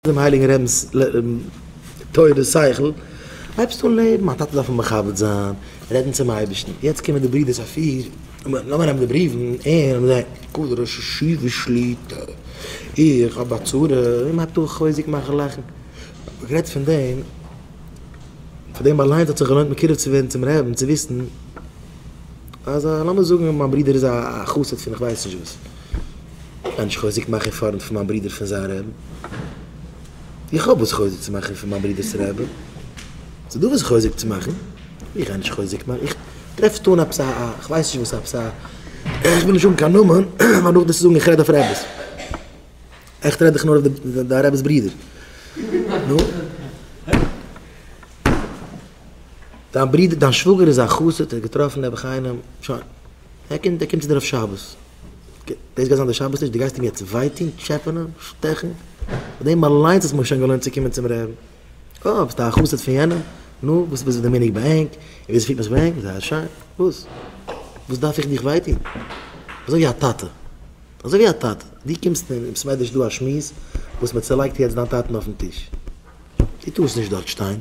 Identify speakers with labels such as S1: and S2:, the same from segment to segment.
S1: דעם הייליגן רבינ'ס תורה שכל, הייבסט אן לעבן, א טאטע דארף מען מכבד זיין, רעדן צום אייבערשטן, יעצט קומען די ברידערס אפי' לאמיר נעמען די בריוון, און כבוד דער ראש ישיבה שליט א, איך האב א צרה, און מען טאר חוזק מאכן לאכן, גערעדט פון דעם, פאר דעם אליינס האט זיך געלוינט מקורב צו ווערן צום רעבין צו וויסן אז א לאמיר זאגן מיין ברידער איז א חסיד פון איך ווייס נישט וואס. בין איך חוזק מאכער פארנט פון מיין ברודער פון זיין רעבען? איך האב וואס חוזק צו מאכען פון מיין ברודערס רעבען? ס'איז דא וואס חוזק צו מאכען? איך גיי נישט חוזק מאכען, איך טרעף נישט אן א פסק, איך ווייס נישט וואס א פסק, איך וויל נישט האבן קיין נאמען פאר נאכדעם צו זאגען איך רעד אויף רעבעס, עכט רעד איך נאר אויף די דיין רעבעס ברודער, נו? דיין ברודער, דיין שוואגער איז א חסיד, ער האט געטראפען נעבעך איינעם, שוין. ער קומט ער קומט צו דיר אויף שבת. דאס גייט זיין די שבת טיש, דו גייסט אים יעצט וויי טון, טשעפענען, שטעכן? פאר דעם אליינס האט מען שוין געלוינט צו קומען צום רעבן. אה, ביסטו א חסיד פון יענעם? נו, וואס איז די מנהג ביי ענק? און וויאזוי פירט מען זיך ביי ענק? זייער שיין. וואס? וואס דארף איך דיך וויי טון? אזוי ווי א טאטע. אזוי ווי א טאטע. דו קומסט און און ס'ווערט נישט דא א שמועס וואס מ'צעלייגט יעצט דיין טאטן אויפן טיש. דו טארסט נישט דארט שטיין.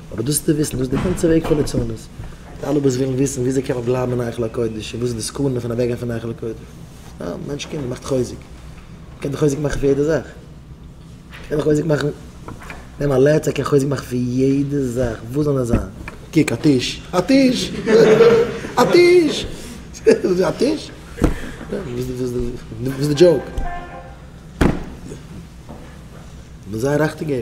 S1: אבער דאס צו וויסן, דאס איז די גאנצע וועג פון ליצנות. די אלע וואס ווילן וויסן וויאזוי קען מען בלייבן אין היכל הקודש און וואס איז די סכנה פון אוועקגיין פון היכל הקודש. א מענטש קומט מאכט חוזק. מען קען דאך חוזק מאכן פון יעדע זאך. מען קען דאך חוזק מאכן. נעם א לעצער קען חוזק מאכן פון יעדע זאך. וואס זאל עס זיין? קוק א טיש. א טיש! א טיש! א טיש? וואס איז די דזשאוק? מען זאל זיין רייכטיגער.